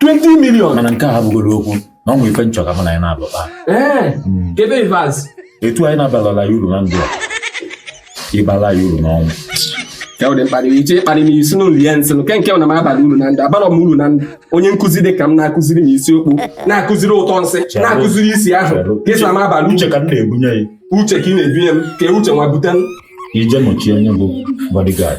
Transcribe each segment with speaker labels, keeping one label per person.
Speaker 1: 20
Speaker 2: million mana nke a abụgoro
Speaker 1: okwu na ọ nwere ife m chọ ka mụ na anyị na-alụta ee
Speaker 2: kebe ivaz etu anyị
Speaker 1: na-abalala ya uru na ndụ a ịbala ya uru n'ọnwụ ya ụdị
Speaker 2: mkparị iche ịkparị m isi n'ụlọ ya nsị nke nke na m abalọ uru na ndụ abalọ m uru na ndụ onye nkụzi dị ka m na-akụziri m isiokwu na-akụziri ụtọ nsị na-akụziri isi ahụ ka ị sị na m abalị uche ka m na-ebunye ya
Speaker 1: uche ka ị na-ebunye m
Speaker 2: ka uche nwa bute m ije nọchie onye
Speaker 1: bụ bodyguard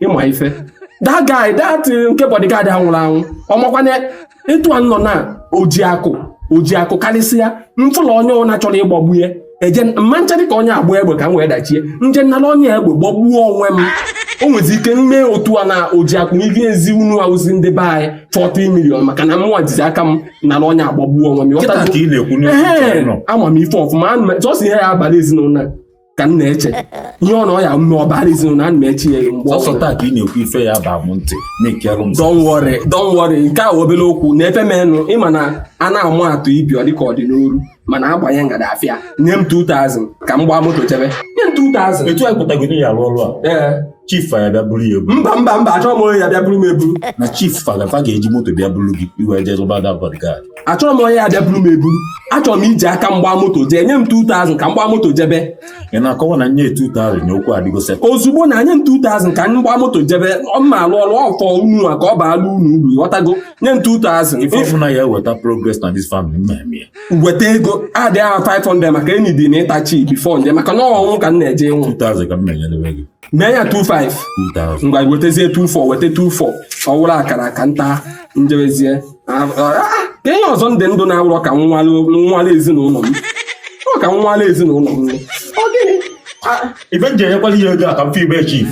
Speaker 2: ịma ife that guy that eh, nke bodyguard a nwụrụ anwụ ọmakwanye etu a nọ na ojiakụ ojiakụ karịsịa m fụlọ onye na-achọrọ ịgbagbu ya eje mma nchadị ka onye agba egbe ka m wee dachie m je nala onye egbe gbagbuo onwe m o nwezi ike m mee otu a na ojiakụ enyezi unu awụzi ndị be anyị 40 million maka na mụnwa jizi aka m nala onye agbagbuo onwe m ama m ife ọfụma sọsọ ihe ya-abalị ezinụlọ ka m na-eche ihe ọ na ọ ya m mee ọ baara ezinụlọ ana m eche ya mgbe ọ sọsọ taa ka ị na-ekwu ife
Speaker 1: ya-aba m ntị na-ekerụ m Don't worry,
Speaker 2: don't worry. nke a wụ obere okwu na ife menụ ịma na a na-ama atụ ibi ọ dịka ọ dị n'oru mana a gbanye ngada a fụ ya nye m 2000 ka m gbaa moto jebe nye m 2000 etu anyị pụtagoro ya arụ
Speaker 1: ọrụ a ee chief fa ya-abịa buru ya eburu mba mba mba achọrọ m onye
Speaker 2: ya-abịa buru m eburu na chief fa na
Speaker 1: fa ga-eji moto bịa buru gị i wee jee zụba da bodyguard achọrọ m onye ya-abịa
Speaker 2: buru m eburu achọrọ m iji aka m gbaa moto jee nye m 2000 ka m gbaa moto jebe ị na-akọwa na
Speaker 1: nye 2000 na okwu adịgo set ozugbo na nye m
Speaker 2: 2000 ka m gbaa moto jebe ọ ma alụ ọrụ ọfọ unu a ka ọ baala unu uru ghọtago nye m 2000 ife ọbụla ya-eweta
Speaker 1: progress na this family m emee weta
Speaker 2: ego adịa ya 500 maka enyi dị na ịtachi before m je maka na ọnwụ ka m na-eje
Speaker 1: ịnwụ mee ya 25
Speaker 2: ngwa wetazie 24 weta 24 ọ wụrụ akara ka m taa m jebezie ah, ah, ah, ka ihe ọzọ ndị ndụ na-awụrọ ka m nwụara ezinụlọ m ọ ka m nwụara ezinụlọ m ọ gịnị ebe m
Speaker 1: je enyekwala ihe ego a ka m fi be chief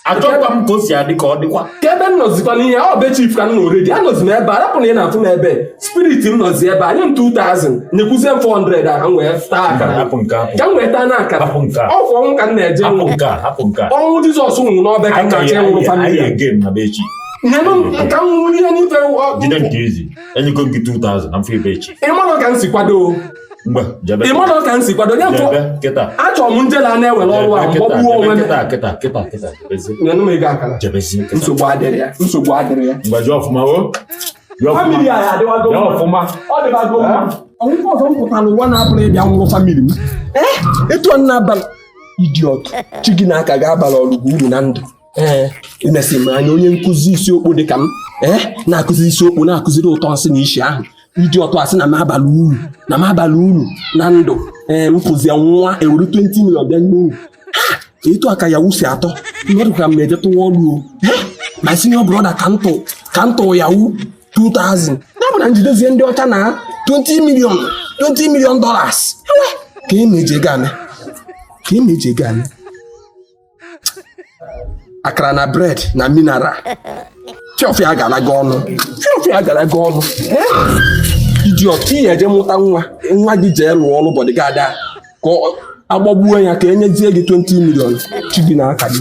Speaker 1: achọkwa m ka o si adị ka ọ dịkwa ka ebe m nọzikwa
Speaker 2: n'ihe ọ be chief ka m nọ already anọzi m ebe a rapụ na ị na-afụ m ebe spirit m nọzi ebe a nye m 2000 nyekwuzie m 400 a ka m wee taa akara hapụ nke a ka m wee taa na akara hapụ nke a ọ kwa ọnwụ ka m na-eje hapụ nke a hapụ nke a ọnwụ jizọs nwụrụ n'ọbe ka m na-achọ ịnwụrụ anyị family ege na be chief nyenụ m ka m nwụrụ ihe n'ife jide nke ezi
Speaker 1: enyego m gị 2000 na m fe be chief ị mara ka m si kwado
Speaker 2: ị manụ ka m si kwado ya tụ achọrọ m njela a na-ewere ọrụ a m gbagbuo onwe nsogbu adịrọ ya nsogbu adịrọ ya family a adịwago ọfụma
Speaker 1: ọ
Speaker 2: dịbago mma ọ wụkwa ọzọ m pụtara ụwa na-abụrụ ịbịa nwụrụ family m etu a na-abalị idiot chi gị na aka gị abarọ gị uru na ndụ ee imesi m anya onye nkụzi isiokwu dị ka m ee na-akụzi isiokwu na-akụziri ụtọ nsị na isi ahụ iji ọtọ asị na m abaghị uru na m abaghị uru na ndụ ee m mụzie nwa ewere 20 million bịa nye uru Ha! etu a ka Yahoo si atọ mmadụ ka m na-eje tụwa ọrụ o Ee, ma si na ọ bụrụ na ka m tụ ka m tụ Yahoo 2000 ya bụ na m jidezie ndị ọcha na 20 million 20 million dollars Ewe, ka e meje gane ka e meje gane akara na bread na mineral fiọfịa agara gị ọnụ fiọfịa agara gị ọnụ idiot ihe eje mụta nwa nwa gị jee lụọ ọrụ bodyguard ka agbagbuo ya ka enyezie gị 20 million chi gị na aka gị